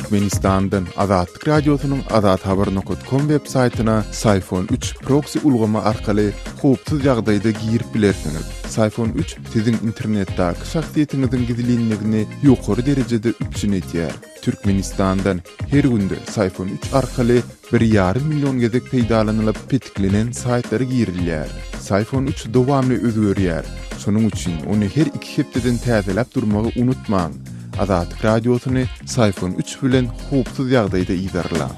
Türkmenistandan Azatlyk Radiosynyň Azat Haber Nokot Kom web saytyna Sayfon 3 proksi ulgama arkaly howpsuz ýagdaýda girip bilersiňiz. Sayfon 3 siziň internetdaki şahsyýetiňiziň gizlinligini ýokary derejede üpjün edýär. Türkmenistandan her günde Syphon üç arkaly bir ýarym million gezek peýdalanylyp petiklenen saýtlara girilýär. Syphon üç dowamly özgerýär, şonuň üçin ony her iki hepdeden täzeläp durmagy unutmaň! Azatlyk Radiosyny Syphon üç bilen howpsuz ýagdaýda yzarlaň!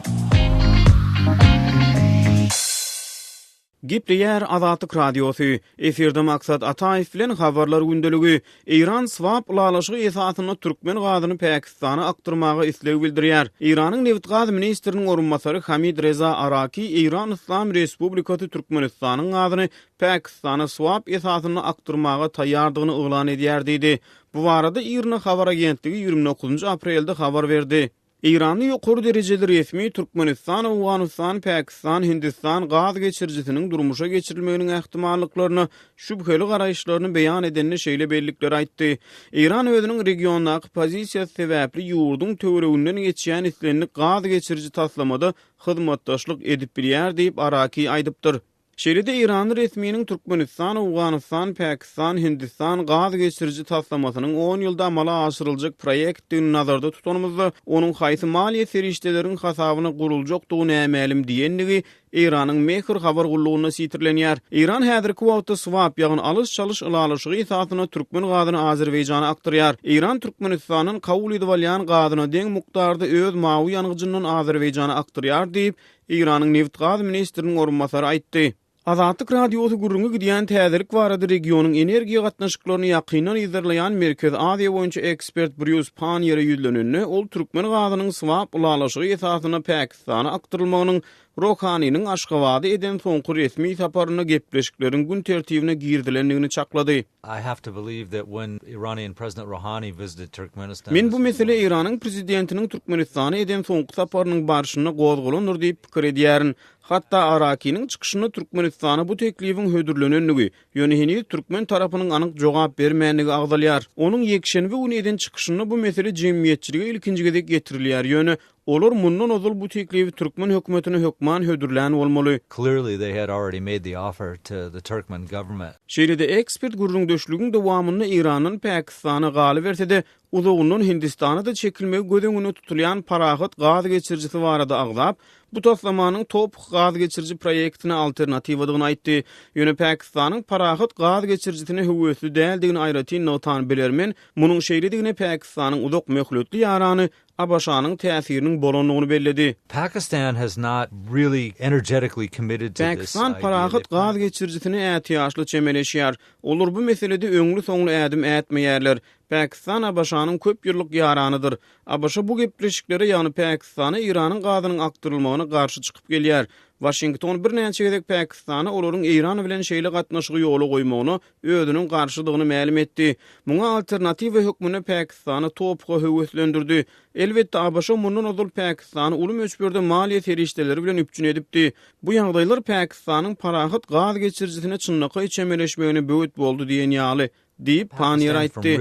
Gepleýär Azatlyk Radiosy, efirde Maksat Ataýew bilen Habarlar gündeligi, Eýran swap ylalaşygy esasynda türkmen gazyny Pakistana akdyrmaga isleg bildirýär. Eýranyň nebit-gaz ministriniň orunbasary Hamid Reza Araki Eýran Yslam Respublikasy Türkmenistanyň gazyny Pakistana swap esasynda akdyrmaga taýýardygyny yglan edýär diýdi. Bu barada IRNA habar agentligi ýigrimi dokuzynjy aprelde habar berdi. Eýranly ýokary derejeli resmi Türkmenistan, Owganystan, Pakistan, Hindistan gaz geçirijisiniň durmuşa geçirilmeginiň ähtimallyklaryna şübheli garaýyşlaryny beýan edende şeýle bellikleri aýtdy, Eýran özüniň regiondaky pozisiýasy sebäpli ýurduň töwereginden geçýän islendik gaz geçiriji taslamada hyzmatdaşlyk edip bilýär diýip Araki aýdypdyr. Şeýle-de eýranly resminiň Türkmenistan, Owganystan, Pakistan, Hindistan gaz geçiriji taslamasynyň on ýylda amala aşyryljak proýektdigini nazarda tutanymyzda, onuň haýsy maliýe serişdeleriň hasabyna guruljakdygy nämälim diýendigi Eýranyň Mehr habar gullugynda sitirlenýär. Eýran häzirki wagtda swap, ýagny alyş-çalyş ylalaşygy esasynda türkmen gazyny Azerbaýjana akdyrýar. Eýran Türkmenistandan kabul edip alýan gazyna deň mukdarda öz mawy ýangyjyndan Azerbaýjana akdyrýar diýip, Eýranyň nebit-gaz ministriniň orunbasary aýtdy. Azatlyk Radiosy gürrüňi gidýän täzelik barada regionyň energiýa gatnaşyklaryny ýakyndan yzarlaýan Merkezi Aziýa boýunça ekspert Brýus Panniere ýüzlenende, ol türkmen gazynyň swap ylalaşygy esasynda Pakistana akdyrylmagynyň Rohaniniň Aşgabada eden soňky resmi saparynda gepleşikleriň gün tertibine girizilendigini çaklady. I have to believe that when Iranian President Rouhani visited Turkmenistan, Men bu mesele Eýranyň prezidentiniň Türkmenistana eden soňky saparynyň barşynda gozgalandyr diýip pikir edýärin. Hatda Arakiniň çykyşynda Türkmenistana bu teklibiň hödürlenendigi, ýöne heniz türkmen tarapynyň anyk jogap bermändigi agzalýar. Onuň ýekşenbe güni eden çykyşynda bu mesele jemgyýetçilige ilkinji gezek getirilýär, ýöne Olar mundan ozal bu teklibi türkmen hökümetine hökman hödürlän bolmaly. Clearly they had already made the offer to the Turkmen government. Şeýle-de ekspert gürrüňdeşligiň dowamynda Eýrandan Pakistana galyberse-de, uzagyndan Hindistana-da çekilmegi göz öňünde tutulýan Parahat gaz geçirijisi barada agzap, bu taslamanyň Toph gaz geçiriji proýektine alternatiwadygyny aýtdy. Ýöne Pakistanyň Parahat gaz geçirijisine höwesli däldigini aýratyn nygtan bilermen, munuň şeýledigine Pakistanyň uzak möhletli ýarany ABŞ-nyň täsiriniň bolandygyny belledi. Pakistan has not really energetically committed to this idea. Pakistan parahat gaz geçirijisine ätiýaçly çemeleşýär. Olar bu meselede öňli-soňly ädim ätmeýärler. Pakistan ABŞ-nyň köp ýyllyk ýaranydyr. ABŞ bu gepleşiklere, ýagny Pakistana Eýranyň gazynyň akdyrylmagyna garşy çykyp gelýär. Waşington birnäçe gezek Pakistana olaryň Eýran bilen şeýle gatnaşygy ýola goýmagyna özüniň garşydygyny mälim etdi. Muňa alternatiwa hökmünde Pakistany TOPH-a höweslendirdi. Elbetde, ABŞ mundan ozal Pakistany uly möçberde maliýe serişdeleri bilen üpjün edipdi. Bu ýagdaýlar Pakistanyň parahat gaz geçirijisine çynlakaý çemeleşmegine böwet boldy diýen ýaly, diýip, Panniýer aýtdy.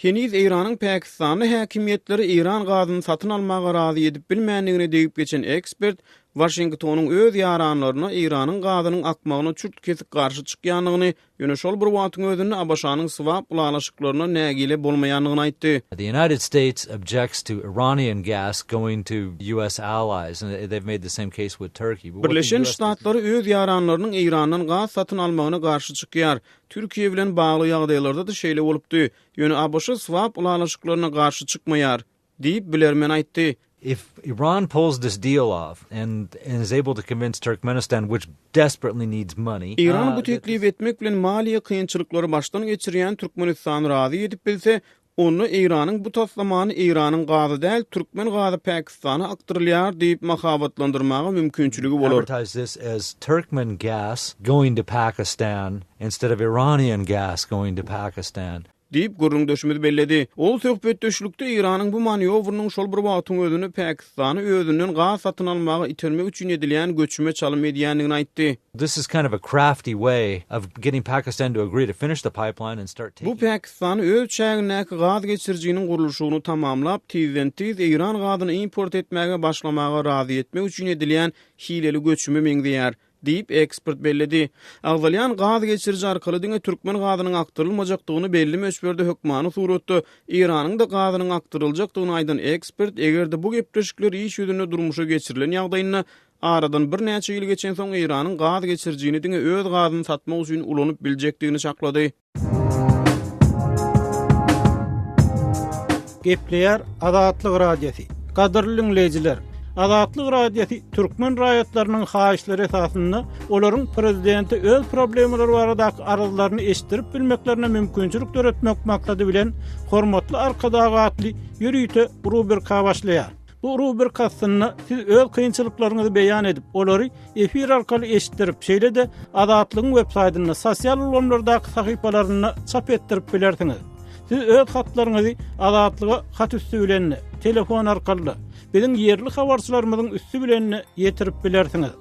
Heniz Eýranyň pakistanly häkimiýetleri eýran gazyny satyn almaga razy edip bilmändigine degip geçen ekspert, Waşingtonyň öz ýaranlaryna Eýranyň gazynyň akmagyna çürt-kesik garşy çykýandygyny, ýöne şol bir wagtyň özünde ABŞ-nyň swap ylalaşyklaryndan nägile bolmaýandygyny aýtdy. The United States objects to Iranian gas going to US allies and they've made the same case with Turkey. Birleşen Ştatlary öz ýaranlarynyň Eýrandan gaz satyn almagyna garşy çykýar. Türkiýe bilen bagly ýagdaýlarda-da şeýle bolupdy. Ýöne ABŞ swap ylalaşyklaryna garşy çykmaýar. Diýip, bilermen aýtdy. If Iran pulls this deal off and is able to convince Turkmenistan which desperately needs money. Iran bu teklibi etmek bilen maliýe kynçylyklary başdan geçirýän Türkmenistany razy edip bilse, onda Eýranyň bu taslamany Eýranyň gazy däl, türkmen gazy Pakistana akdyrylýar diýip mahabatlandyrmaga mümkinçiligi bolar. Advertise this as Turkmen gas going to Pakistan instead of Iranian gas going to Pakistan. Diýip, gürrüňdeşimiz belledi. Ol söhbetdeşlikde Eýranyň bu manýowrynyň şol bir wagtyň özünde Pakistany özünden gaz satyn almaga itermek üçin edilýän göçüme çalym edýändigini aýtdy. Bu Pakistany öz çägindäki gaz geçirijiniň gurluşygyny tamamlap, tizden-tiz Eýran gazyny import etmäge başlamaga razy etmek üçin edilýän hileli göçüme meňzeýär, diýip, ekspert belledi. Agzalýan gaz geçiriji arkaly diňe türkmen gazynyň akdyrylmajakdygyny, belli möçberde hökmany suratda Iranyň-da gazynyň akdyryljakdygyny aýdan ekspert, eger-de bu gepleşikler iş ýüzünde durmuşa geçirilen ýagdaýynda, aradan birnäçe ýyl geçensoň Iranyň gaz geçirijini diňe öz gazyny satmak üçin ulanyp biljekdigini çaklady. Gepleýär Azatlyk Radiosy. Gadyrly dinleýjiler, Azatlyk Radiosy türkmen raýatlarynyň haýyşlary esasynda olaryň prezidente öz problemalary baradaky arzlaryny eşitdirip bilmeklerine mümkinçilik döretmek maksady bilen Hormatly Arkadag atly ýörite rubrika başlaýar. Bu rubrika astynda siz öz kynçylyklaryňyzy beýan edip, olary efir arkaly eşitdirip, şeýle-de Azatlygyň web saýtynda, sosial ulgamlardaky sahypalarynda çap etdirip bilersiňiz. Siz öz hatlaryňyzy Azatlyga hat üsti bilen, telefon arkaly, biziň ýerli habarçylarymyzyň üsti bilen ýetirip bilersiňiz.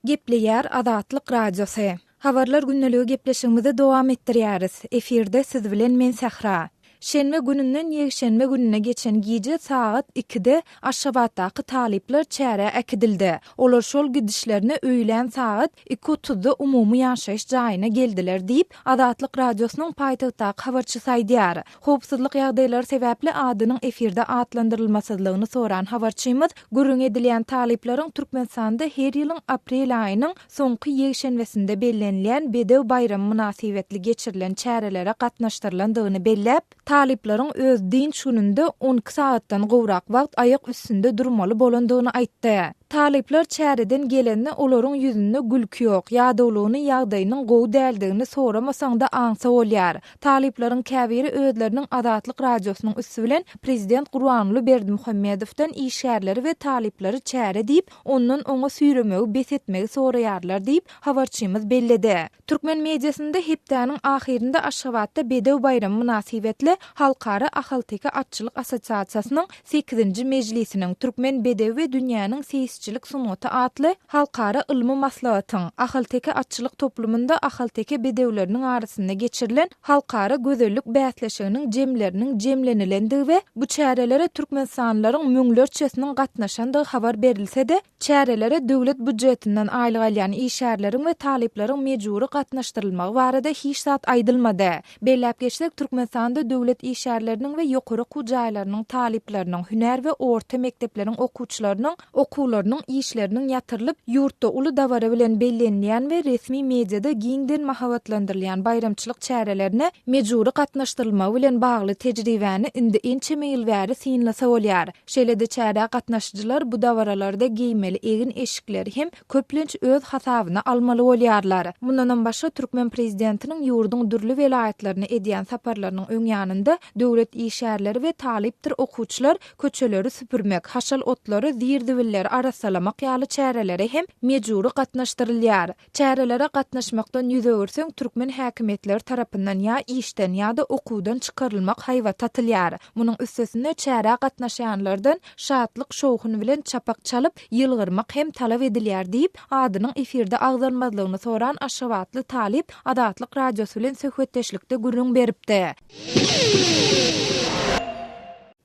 Gepleýär Azatlyk Radiosy. Habarlar gündäligi gepleşigimizi dowam etdirýäris. Efirde siz bilen men Sähra. Şenbe gününden ýekşenbe gününe geçen gije sagat ikide Aşgabatdaky talyplar çärä äkidildi. Olar şol gidişlerine öýlän sagat iki otuzda umumy ýaşaýyş jaýyna geldiler diýip, Azatlyk Radiosynyň paýtagtdaky habarçysy aýdýar. Howpsuzlyk ýagdaýlary sebäpli adynyň efirde atlandyrylmasyzlygyny soran habarçymyz gürrüňi edilýän talyplaryň Türkmenistanda her ýylyň aprel aýynyň soňky ýekşenbesinde bellenilýän Bedew baýramy mynasybetli geçirilen çärelere gatnaşdyrylandygyny belläp, talyplaryň öz dynç gününde on iki sagatdan gowrak wagt aýak üstünde durmaly bolandygyny aýtdy. Talyplar çäreden gelende olaryň ýüzünde gülki ýok, ýadawlygyny, ýagdaýynyň gowy däldigini soramasaň-da aňsa bolýar. Talyplaryň käbiri özleriniň Azatlyk Radiosynyň üsti bilen prezident Gurbanguly Berdimuhamedowdan işgärleri we talyplary çäre diýip, ondan oňa süýremegi bes etmegi soraýarlar diýip, habarçymyz belledi. Türkmen mediasynda hepdäniň ahyrynda Aşgabatda Bedew baýramy mynasybetli Halkara ahalteke atçylyk assosiasiýasynyň sekizinji mejlisiniň Türkmen bedewi we dünýäniň seýisçilik sungaty atly halkara ylmy maslahatyň Ahalteke atçylyk toplumynda ahalteke bedewleriniň arasynda geçirilen halkara gözellik bäsleşiginiň jemleriniň jemlenilendigi we bu çärelere türkmenistanlylaryň müňlerçesiniň gatnaşandygy habar berilse-de, Çärelere döwlet býujetinden aýlyk alýan işgärleriň we talyplaryň mejbury gatnaşdyrylmagy barada hiç zat aýdylmady. Belläp geçsek, Türkmenistanda döwlet işgärleriniň we ýokary okuw jaýlarynyň talyplarynyň, hünär we orta mekdepleriň okuwçylarynyň okuwlarynyň, işleriniň ýatyrylyp, ýurtda uly dabara bilen bellenilýän we resmi mediada giňden mahabatlandyrylýan baýramçylyk çärelerine mejbury gatnaşdyrylmagy bilen bagly tejribäni indi ençeme ýyl bäri synlasa bolýar. Şeýle-de çärä gatnaşyjylar bu dabaralarda geýmeli egin-eşikleri hem köplenç öz hasabyna almaly bolýarlar. Mundanam başga türkmen prezidentiniň ýurduň dürli welaýatlaryna edýän saparlarynyň öň ýanynda döwlet işgärleri we talypdyr okuwçylar köçeleri süpürmek, haşal otlary, zir-zibilleri arassalamak ýaly çärelere hem mejbury gatnaşdyrylýar. Çärelere gatnaşmakdan ýüz öwürseň, türkmen häkimiýetleri tarapyndan ýa işden ýa-da okuwdan çykarylmak haýbaty atylýar. Munuň üstesine çärä gatnaşýanlardan şatlyk-şowhun bilen çapak çalyp, ýylgyrmak hem talap edilýär diýip, adynyň efirde agzalmazlygyny soran aşgabatly talyp Azatlyk Radiosy bilen söhbetdeşlikde gürrüň beripdi.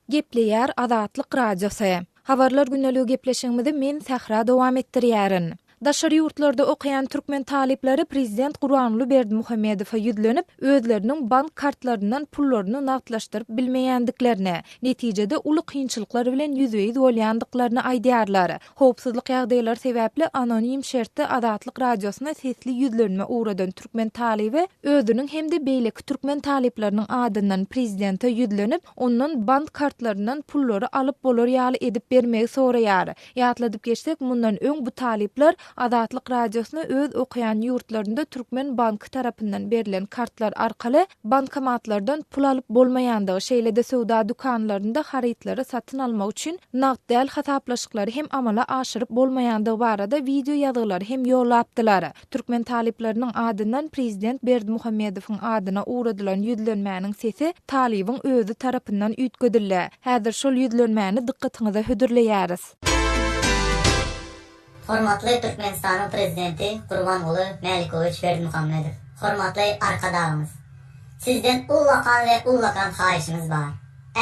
Gepleýär Azatlyk Radiosy. Habarlar güneligi gepleşigimizi men, Sähra, dowam etdirýärin. Daşary ýurtlarda okaýan türkmen talyplary prezident Gurbanguly Berdimuhamedowa ýüzlenip, özleriniň bank kartlaryndan pullaryny nagtlaşdyryp bilmeýändiklerini, netijede uly kynçylyklar bilen ýüzbe-ýüz bolýandyklaryny aýdýarlar. Howpsuzlyk ýagdaýlary sebäpli anonim şertde Azatlyk Radiosyna sesli ýüzlenme ugradan türkmen talyby özüniň hem-de beýleki türkmen talyplarynyň adyndan prezidente ýüzlenip, ondan bank kartlaryndan pullary alyp bolar ýaly edip bermegi soraýar. Ýatladyp geçsek, mundan öň bu talyplar Azatlyk Radiosyna öz okaýan ýurtlarynda türkmen banky tarapyndan berlen kartlar arkaly, Bankomatlardan pul alyp bolmaýandygy, şeýle-de söwda dükanlarynda harytlary satyn almak üçin nagt däl hasaplaşyklary hem amala aşyryp bolmaýandygy barada wideo ýazgylary hem ýollapdylar. Türkmen talyplarynyň adyndan prezident Berdimuhamedowyň adyna ugradylan ýüzlenmäniň sesi talybyň özi tarapyndan üýtgedildi. Häzir şol ýüzlenmäni dykgatyňyza hödürleýäris. Hormatly Türkmenistanyň Prezidenti Gurbanguly Mälikowýç Berdimuhamedow, hormatly Arkadagymyz! Sizden ullakan we ullakan haýyşymyz bar.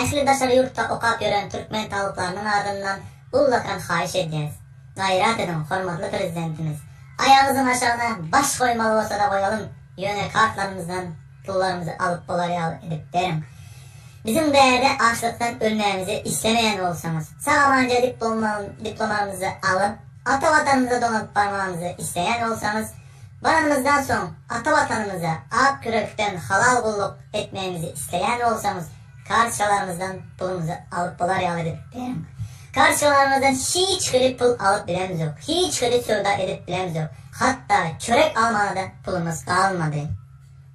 Ähli daşary ýurtda okap ýören türkmen talyplarynyň adyndan ullakan haýyş edýäs. Gaýrat ediň, hormatly Prezidentimiz! Aýagyzyň aşagyna baş goýmaly bolsa-da goýalym, ýöne kartlarymyzdan Pullarymyzy alyp bolar ýaly edip beriň. Biziň bärde açlykdan ölmegimizi islemeýän bolsaňyz, sag-amanca diplomamyzy alyp, ata Watanymyza dolanyp barmagymyzy isleýän bolsaňyz, baranymyzdan soň ata Watanymyza ak ýürekden halal gulluk etmegimizi isleýän bolsaňyz, kartçalarymyzdan pulumyzy alyp bolar ýaly edip beriň. Kartçalarymyzdan hiç hili pul alyp bilemizok, hiç hili söwda edip bilemizok, hatda çörek almaga-da pulumyz galmady.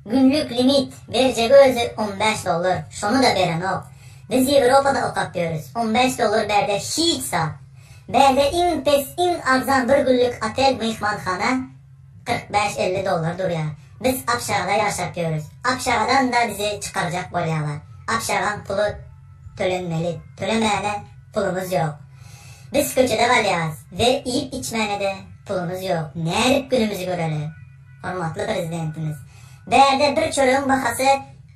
Günlük limit berjegi özi on bäş dollar şonuda berenok biz ýewropada okap ýörüs on bäş dollar bärde hiç zat bärde iň pes iň arzan bir günlük otel myhmanhana kyrk bäş elli dollar durýar biz abşagada ýaşap ýörüs abşagadanda bizi çykarjak bolýalar abşagaň puly tölenmeli tölemäne pulumyz ýok biz köçede galýarys we iýip içmänede pulumyz ýok nädip günümizi göreli. Hormatly Prezidentimiz, Bärde bir çöregiň bahasy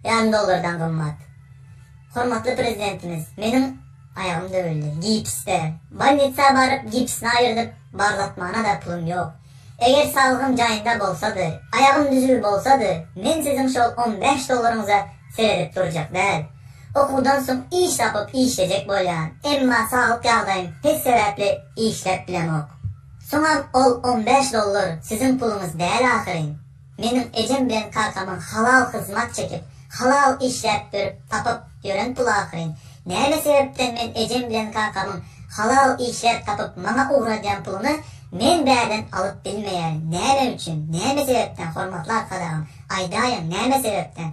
ýarym dollardan gymmat. Hormatly Prezidentimiz, meniň aýagym döwüldi, gips ber. Bolnitsa baryp, gipsini aýyrdyp, barlatmana-da pulum ýok. Eger saglygym jaýynda bolsady, aýagym düzüw bolsady, men siziň şol on bäş dollaryňyza seredip durjak däl. Okuwdan soň iş tapyp işlejek bolýan, emma saglyk ýagdaýym pes sebäpli işläp bilemok. Soňam ol on bäş dollar siziň puluňyz däl ahyryn. Meniň ejem bilen kakamyň halal hyzmat çekip, halal işläp ýörüp tapyp ýören pul ahyryn. Näme sebäpden men ejem bilen kakamyň halal işläp tapyp maňa ugradýan puluny men bärden alyp bilmeýärin? Näme üçin? Näme sebäpden hormatly arkadagym? Aýdaýyň, näme sebäpden?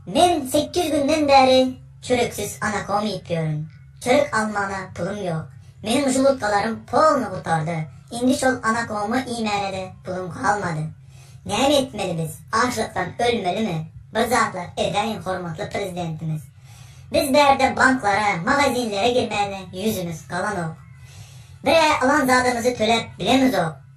Men sekiz ýüz günden bäri çöreksiz anakom iýip ýörün. Çörek almaga pulum ýok. Meniň žmutkalarym polny gutardy. Indi şol anakommy iýmäne-de pulum galmady. Näme etmeli biz? Açlykdan ölmelimi? Bir zatlar edäýiň hormatly Prezidentimiz. Biz bärde banklara, magazinlere girmäne ýüzümiz galanok. Bir-ä alan zadymyzy töläp bilemizok.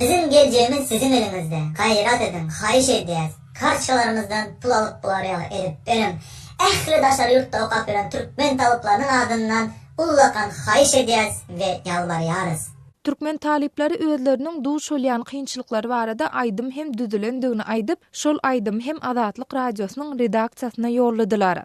Biziň geljegimiz siziň eliňizde, gaýrat ediň, haýyş edýäs, kartçkalarymyzdan pul alyp bolar ýaly edip beriň, ähli daşary ýurtda okap ýören türkmen talyplarynyň adyndan ullakan haýyş edýäs we ýalbarýarys. Türkmen talyplary özleriniň duş bolýan kynçylyklary barada aýdym hem düzülendigini aýdyp, şol aýdymy hem Azatlyk Radiosynyň redaksiýasyna ýolladylar.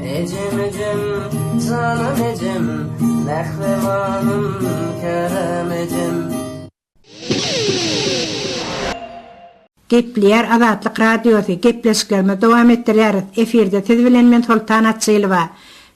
Ejem ejem janam ejem mähribanym kerem ejem. Gepleýär Azatlyk Radiosy, Gepleşiklerimizi dowam etdirýäris. Efirde siz bilen men Soltan Atjylowa.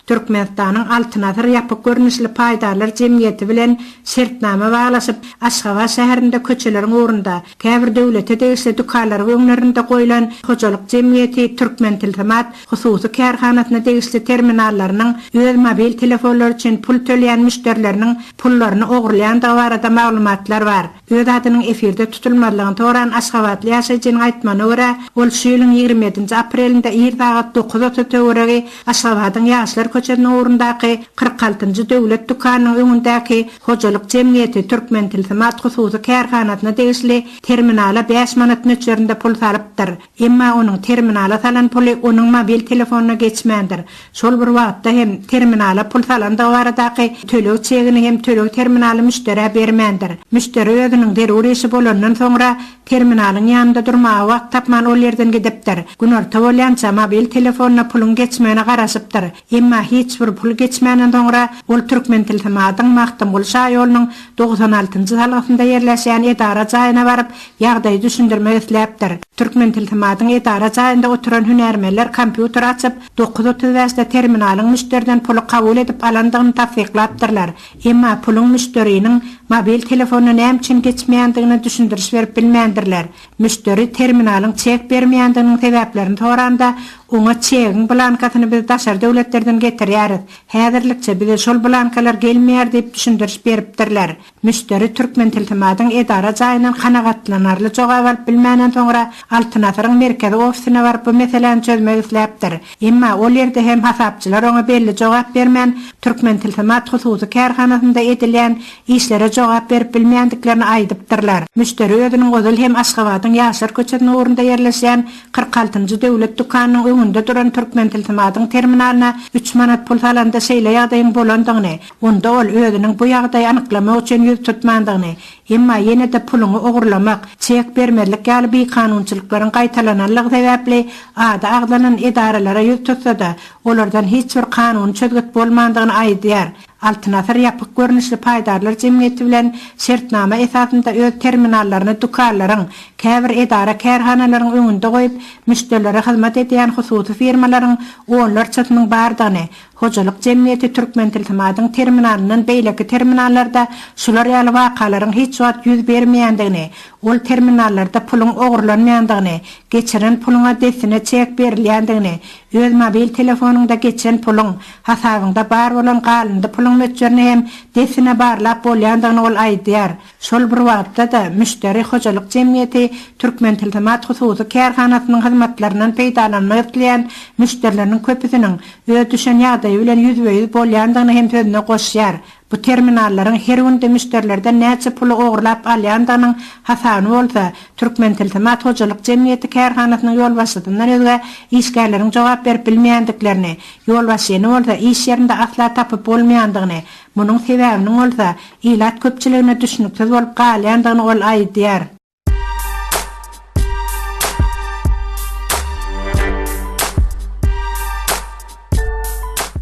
Türkmenistanyň Altyn asyr ýapyk görnüşli paýdarlar jemgyýeti bilen şertnama baglaşyp, Aşgabat şäherinde köçeleriň ugrunda, käbir döwlete degişli dükanlaryň öňlerinde goýlan hojalyk jemgyýeti Türkmentilsimat Hususy kärhanasyna degişli terminallarynyň öz mobil telefonlary üçin pul töleýän müşderileriniň pullaryny ogurlaýandygy barada maglumatlar bar. Öz adynyň efirde tutulmazlygyny soran aşgabatly ýaşaýjynyň aýtmagyna görä, ol şu ýylyň ýigrimi ýedinji aprelinde ir sagat dokuz otuz töweregi Aşgabadyň Ýaşlar köçesiniň ugrundaky kyrk altynjy döwlet dükanynyň öňündäki hojalyk jemgyýeti Türkmentilsimat hususy kärhanasyna degişli terminala bäş manat möçberinde pul salypdyr. Emma onuň terminala salan puly onuň mobil telefonyna geçmändir. Şol bir wagtda hem, terminala pul salandygy baradaky töleg çegini hem töleg terminaly müşderä bermändir. Müşderi özüniň zerur işi bolandan soňra, terminalyň ýanynda durmaga wagt tapman ol ýerden gidipdir. Günorta bolýança, mobil telefonyna puluň geçmegine garaşypdyr. Emma hiç bir pul geçmänden soňra ol Türkmentilsimatyň Magtymguly şaýolunyň togsan altynjy salgysynda ýerleşýän edara jaýyna baryp, ýagdaýy düşündirmek isläpdir. Türkmentilsimatyň edara jaýynda oturan hünärmenler kompýuteri açyp, dokuz otuz bäşde terminalyň müşderiden puly kabul edip alandygyny tassyklapdyrlar. Emma puluň müşderiniň mobil telefonyna näme üçin geçmeýändigine düşündiriş berip bilmändirler. Müşderi terminalyň çek bermeýändiginiň sebäplerini soranda, oňa çegiň blankasyny biz daşary döwletlerden getirýäris, häzirlikçe bize şol blankalar gelmeýär diýip düşündiriş beripdirler. Müşderi Türkmentilsimatyň edara jaýyndan kanagatlanarly jogap alyp bilmänden soňra, Altyn asyryň merkezi ofisine baryp bu meseläni çözmek isläpdir. Emma ol ýerde hem hasapçylar oňa belli jogap bermän, Türkmentilsimat hususy kärhanasynda edilýän işlere jogap berip bilmeýändiklerini aýdypdyrlar. Müşderi özüniň ozal hem Aşgabadyň Ýaşlar köçesiniň ugrunda ýerleşýän kyrk altynjy döwlet dükanynyň öňünde duran Türkmentilsimadyň terminalyna üç manat pul salanda şeýle ýagdaýyň bolandygyny, onda ol özüniň bu ýagdaýy anyklamak üçin ýüz tutmandygyny, Emma ýene-de puluňy ogurlamak, çek bermezlik ýaly bikanunçylyklaryň gaýtalananlygy sebäpli ady agzalan edaralara ýüz tutsa-da, olardan hiç bir kanuny çözgüt bolmandygyny aýdýar. Altyn Asyr ýapyk görnüşli paýdarlar jemgyýeti bilen şertnama esasynda öz terminallaryny dükanlaryň, käbir edara-kärhanalaryň öňünde goýup, müşderilere hyzmat edýän hususy firmalaryň onlarçasynyň bardygyny, Hojalyk jemgyýeti Türkmentilsimatyň terminalyndan beýleki terminallarda şular ýaly wakalaryň hiç wagt ýüz bermeýändigini, ol terminallarda puluň ogurlanmaýandygyny, geçiren puluňa dessine çek berilýändigini, öz mobil telefonyňda geçen puluň, hasabyňda bar bolan galyndy puluň möçberini hem dessine barlap bolýandygyny ol aýdýar. Şol bir wagtda-da, müşderi hojalyk jemgyýeti Türkmentilsimat hususy kärhanasynyň hyzmatlaryndan peýdalanmak isleýän müşderileriniň köpüsiniň öz düşen ýagdaýy bilen ýüzbe-ýüz bolýandygyny hem sözüne goşýar, bu terminallaryň her günde müşderilerden näçe puly ogurlap alýandygynyň hasabyny bolsa, Türkmentilsimat hojalyk jemgyýeti kärhanasynyň ýolbaşçysyndan özge işgärleriň jogap berip bilmeýändiklerini, ýolbaşçyny bolsa iş ýerinde asla tapyp bolmaýandygyny, Munuň sebäbiniň bolsa, ilat köpçüligine düşnüksiz bolup galýandygyny ol aýdýar.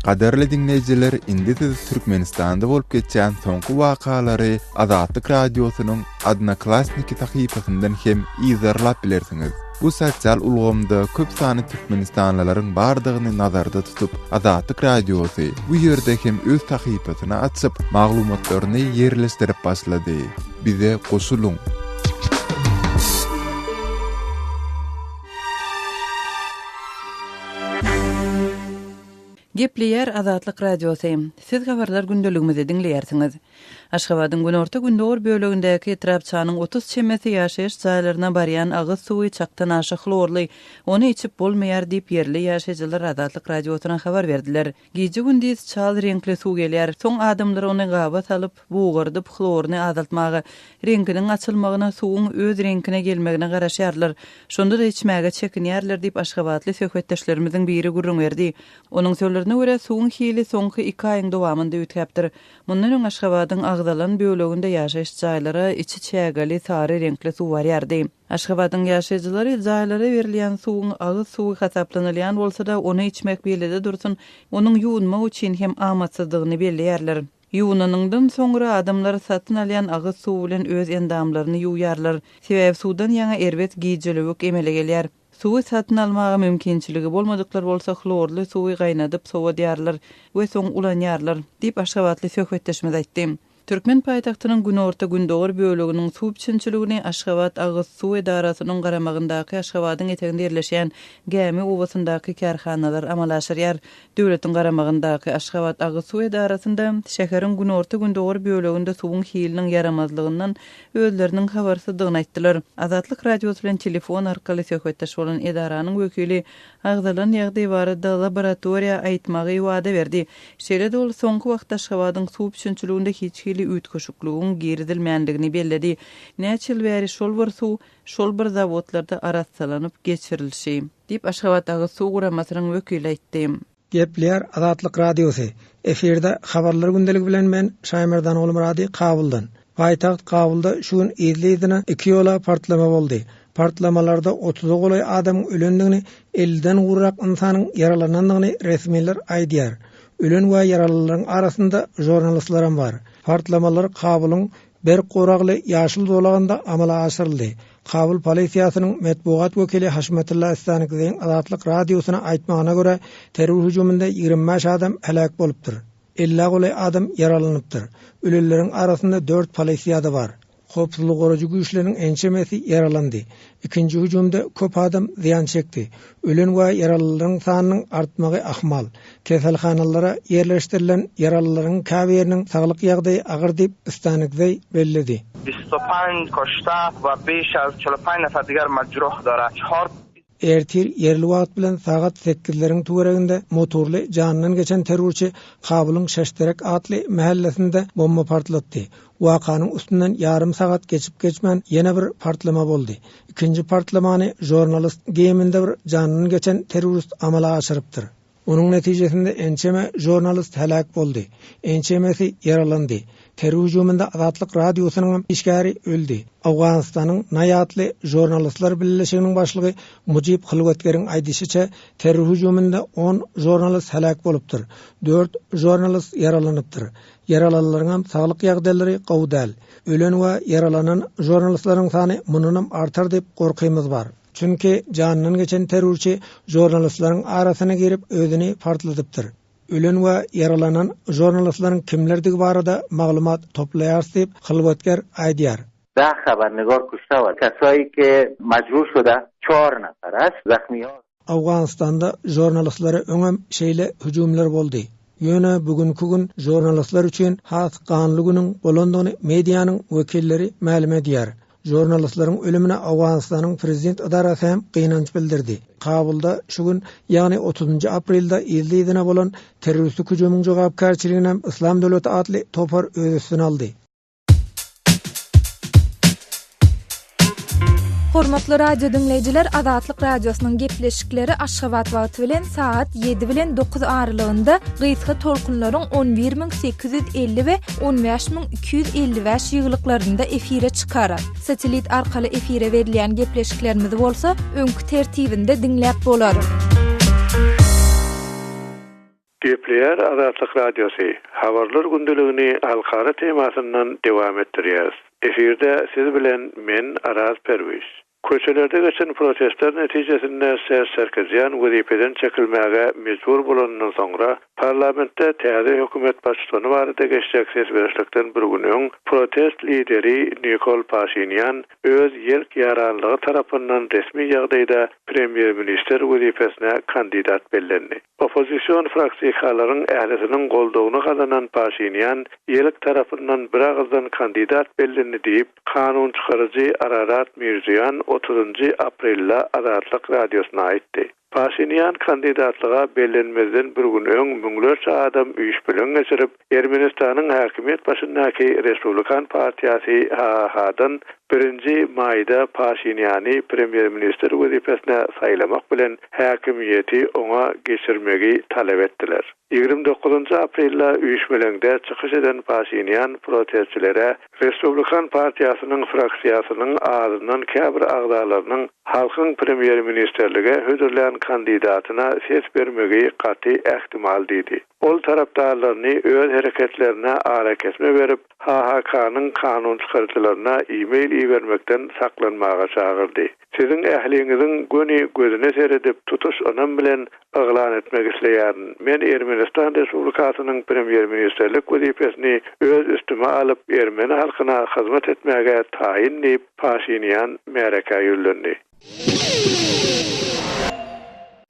Gadyrly diňleýjiler indi siz Türkmenistanda bolup geçýän soňky wakalary Azatlyk Radiosynyň Odnoklassniki sahypasyndan hem yzarlap bilersiňiz. Bu sosial ulgamda köp sany türkmenistanlylaryň bardygyny nazarda tutup, Azatlyk Radiosy bu ýerde hem öz sahypasyny açyp, maglumatlaryny ýerleşdirip başlady. Bize goşulyň! Gepleýär Azatlyk Radiosy. Siz habarlar gündeligimizi diňleýärsiňiz. Aşgabadyň günorta-gündogar bölegindäki etrapçanyň otuz çemesi ýaşaýyş jaýlaryna barýan agyz suwy çakdan aşa hlorly, ony içip bolmaýar diýip, ýerli ýaşaýjylar Azatlyk Radiosyna habar berdiler. Gije-gündiz çal reňkli suw gelýär, soň adamlar ony gaba salyp, bugardyp, hloryny azaltmaga, reňkiniň açylmagyna, suwuň öz reňkine gelmegine garaşýarlar. Şonda-da içmäge çekinýärler diýip, aşgabatly söhbetdeşlerimiziň biri gürrüň berdi. Onuň sözlerine görä, suwuň hili soňky iki aýyň dowamynda üýtgäpdir. Mundan öň Aşgabadyň agzalan böleginde ýaşaýyş jaýlara içi çägeli sary reňkli suw barýardy. Aşgabadyň ýaşaýjylary jaýlara berilýän suwuň agyz suwy hasaplanylýan bolsa-da, ony içmek bile-de dursun, onuň ýuwunmak üçin hem amatsyzdygyny belleýärler. Ýuwunanyňdan soňra adamlar satyn alýan agyz suwy bilen öz endamlaryny ýuwýarlar. Sebäbi suwdan ýaňa erbet gijölewük emele gelýär. Suwy satyn almaga mümkinçiligi bolmadyklar bolsa hlorly suwy gaýnadyp sowadýarlar we soň ulanýarlar, diýip, aşgabatly söhbetdeşimiz aýtdy. Türkmen paýtagtynyň günorta-gündogar böleginiň suw biçinçiligini Aşgabat agyz suw edarasynyň garamagyndaky Aşgabadyň eteginde ýerleşýän Gämi obasyndaky kärhanalar amala aşyrýar. Döwletiň garamagyndaky Aşgabat agyz suw edarasynda şäheriň günorta-gündogar böleginde suwuň hiliniň ýaramazlygyndan özleriniň habarsyzdygyny aýtdylar. Azatlyk Radiosy bilen telefon arkaly söhbetdeş bolan edaranyň wekili agzalan ýagdaý barada laboratoriýa aýtmagy wada berdi. Şeýle-de ol soňky wagtda Aşgabadyň suw üpjünçiliginde hiç hili üýtgeşikligiň girizilmändigini belledi. Näçe ýyl bäri şol bir suw şol bir zawodlarda arassalanyp geçirilşi, diýip, Aşgabat agyz suw guramasynyň wekili aýtdy. Gepleýär Azatlyk Radiosy, Efirde Habarlar gündeligi bilen men Şaýmerdan Gulmyrady Kabuldan. Paýtagt Kabulda şu gün yzly-yzyna iki ýola partlama boldy. Partlamalarda otuza golaý adamyň ölendigini, elliden gurrak ynsanyň ýaralanandygyny resmiler aýdýar. Ölen we ýaralylaryň arasynda žurnalistlerem bar. Partlamalar Kabulyň Berk Goragly ýaşyl zolagynda amala aşyryldy. Kabul polisiýasynyň metbugat wekili Haşmatylla Istankiziň Azatlyk Radiosyna aýtmagyna görä, terror hüjüminde ýigrimi bäş adam heläk bolupdyr. Ellä golaý adam ýaralanypdyr. Ölenleriň arasynda dört polisiýada bar. Howpsuzlyk goraýjy güýçleriniň ençemesi ýaralandy. Ikinji hüjümde köp adam zyýan çekdi. Ölen we ýaralylaryň sanynyň artmagy ahmal. Keselhanalara ýerleşdirilen ýaralylaryň käbiriniň saglyk ýagdaýy agyr diýip, Stanigzeý belledi. Vystopan, Koşta, Wabyşa, Çolopayna, Sadgar, Madžroh, Dora, Çhort. Ertir ýerli wagt bilen sagat sekizleriň töwereginde motorly janyndan geçen terrorçy Kabulyň Şeşterek atly mähellesinde bomba partlatdy. Wakanyň üstünden ýarym sagat geçip-geçmän ýene bir partlama boldy. Ikinji partlamany žornalyst geýiminde bir jandan geçen terrorist amala aşyrypdyr. Onuň netijesinde ençeme žornalyst heläk boldy, ençemesi ýaralandy. Terror hüjüminde Azatlyk Radiosynyň hem işgäri öldi. Owganystanyň NAI atly žornalistler bileleşiginiň başlygy Mujib Hylwetgeriň aýdyşyça, terror hüjüminde on žornalyst heläk bolupdyr, dört žornalyst ýaralanypdyr. Ýaralanlaryňam saglyk ýagdaýlary gowy däl. Ölen we ýaralanan žurnalistlaryň sany mundanam artar diýip gorkymyz bar. Çünki janyndan geçen terrorçy žurnalistlaryň arasyna girip özüni partladypdyr. Ölen we ýaralanan žurnalistlaryň kimlerdigi barada maglumat toplaýarys diýip, hylwatger aýdýar. Dag habaryny görküşde bor. Kasoýki, Majuşuda, Çorna, Sarahs, Zahmyýor. Owganystanda žurnalistlara öňem şeýle hüjümler boldy. Ýöne bu günki gün žurnalistler üçin has ganly günüň bolandygyny medianyň wekilleri mälim edýär. Žurnalistleriň ölümine Owganystanyň prezident edarasy hem gynanç bildirdi. Kabulda şu gün, ýagny otuzynjy aprelde yzly-yzyna bolan terroristik hüjümiň jogapkärçiliginem Yslam döwleti atly topar öz üstüne aldy. Hormatly radio diňleýjiler, Azatlyk Radiosynyň gepleşikleri Aşgabat wagty bilen sagat 7 bilen 9 aralygynda gysga tolkunlaryň 11850 we 15255 ýyglyklarynda efire çykar. Satelit arkaly efire berilýän gepleşiklerimizi bolsa öňki tertibinde diňläp bolar. Gepleýär Azatlyk Radiosy, Habarlar gündeligini halkara temasyndan dowam etdirýäris. Efirde siz bilen men, Araz Perwiz. Köçelerde geçen protestler netijesinde Ser Sarkisýan wezipeden çekilmäge mejbur bolanyndan soňra, parlamentde täze hökümet baştutany barada geçjek ses berişlikden bir gün öň, protest lideri Nikol Paşinýan öz ýelk ýaranlygy tarapyndan resmi ýagdaýda premýer-ministr wezipesine kandidat bellendi. Oppozision fraksiýkalaryň ählisiniň goldawyny gazanan Paşinian ýelek tarapyndan biragyzdan kandidat bellindi diýip, kanun çykaryjy Ararat Mirziýoan otuzynjy aprelde Azatlyk Radiosyna aýtdy. Paşinian kandidatlyga bellenmezden bir gün öň müňlerçe adam üýşbileň geçirip, Ermenistanyň häkimiýet başyndaky Respublikan partiýasy HHH-dan birinji maýda Paşiniany premýer-ministr wezipesine saýlamak bilen, häkimiýeti oňa geçirmegi talap etdiler. Ýigrimi dokuzynjy aprelde üýşmeleňde çykyş eden Paşinian protestçilere Respublikan partiýasynyň fraksiýasynyň azyndan käbir agzalarynyň halkyň premýer-ministrlige hödürlän kandidatyna ses bermegi gaty ähtimal diýdi. Ol tarapdarlaryny öz hereketlerine arakesme berip, HHK-nyň kanun çykaryjylaryna e-mail ibermekden saklanmaga çagyrdy. Siziň ähliňiziň göni gözüne seredip, tutuş ynam bilen yglan etmek isleýärin, men Ermenistan Respublikasynyň premýer-ministrlik wezipesini öz üstüme alyp, ermeni halkyna hyzmat etmäge taýyn diýip, Paşinian märekä ýüzlendi.